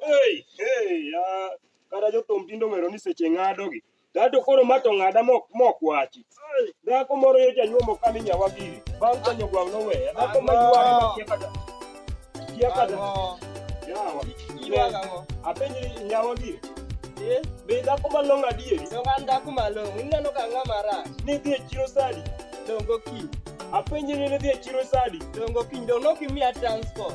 Hey, hey, ah, kata jothum tinde ong'eyo ni seche ng'adogi Gato koro ma to ng'ada mok mok wachi. Dhako moro yo janyuomo ka mi nyawa giri. Bang' ka nyogwang' noweya. Dhako ma yuwari ma kia kada. Kia kada. Yawa. Iwaga ngo. Apenji nyawa giri. Eh, Be dhako ma long adieri? dong an dhako malong'o. Ineno ka ang'a marach. Ni dhi e chiro sadi. Dongo kiny. Apenji ni ne dhi e chiro sadi. Dongo kiny. Dong' nokimiya transport.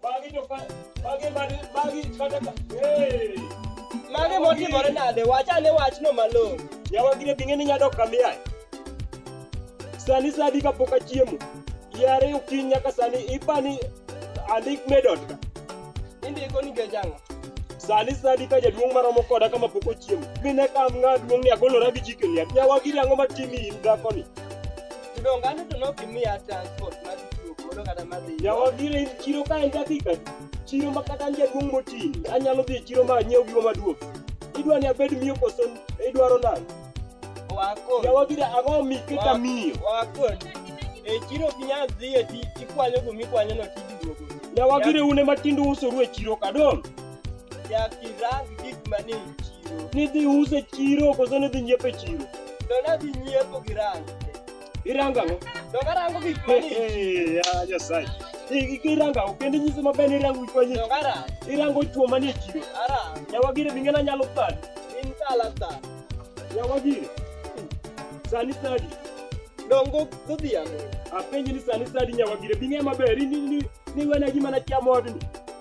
Magi to ka magi magi magi kata ka. Hey. Mage motimore nade? Wach ane wachno malong'o. Yawa gine bing'e ni nyadok kamiyae. Sani sadi kapok achiemo. Yare okinyi nyaka sani ipani andik medot ka. Indiko nikech ang'o? Sani sadi ka jaduong' maromo koda kama pok ochiemo. Mine kam ng'a duong' ni agolora gi jikeni. Yawa gine ang'o matimi in dhakoni? Tudongane to nok imiya transport mar tiyo godo kata mar dhi. Yawa biro e chiro ka en dakika adi? chiro ma kata an jaduong' moti anyalo dhi e chiro ma anyiew gigo maduong' idwa ni abed miyo koso idwaro nang'o Wakon. yawa gida ang'o mi keta Wa- miyo Wakon. E chiro ok inyal dhi e ti ikwanyo gumi kwanyo no tiduogo. yawa gida une matindo usoru e chiro kadong' Jakirang gik mani e chiro. Nidhi use chiro koso nidhi nyiepo e chiro? To nadhi nyiepo gi rango. Irango ang'o? To karango gik mani e chiro. Ya Nyasaye. Irango ang'o? Kendo nyiso maber ni irango gik mani e chiro. To karango. Irango chuo mani e chiro. Arango. Nyawagire bi ng'ena nyalo thani. In kala thani. Nyawagire. Sani sadi. Dongo godhiambo. Apenji ni sani sadi nyawagire bi ng'e maber. Ni ni ni wena gima na chamo odni.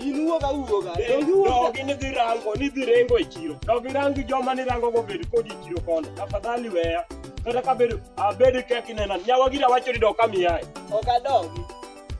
Inuo ka uo ga. Dongi uo. Dogi ni dhi rango, ni dhi rengo e chiro. Dogi rangi joma ni rango go bed kodi e chiro kono. Tafadhali weya. Kata ka bedo abedo kek inena. Nyawa gira wacho ni dok kami yae. Ok adogi.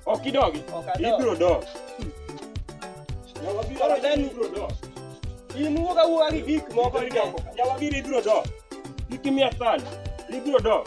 Ok idogi. Ok adogi. Ibiro dok. Nyawa gira Koro wacho ni Dani- ibiro dok. Inuo ka uo gi gik moko. Ibiro dok. Nyawa gira ibiro dok. Kik imiya sand. Ibiro dok.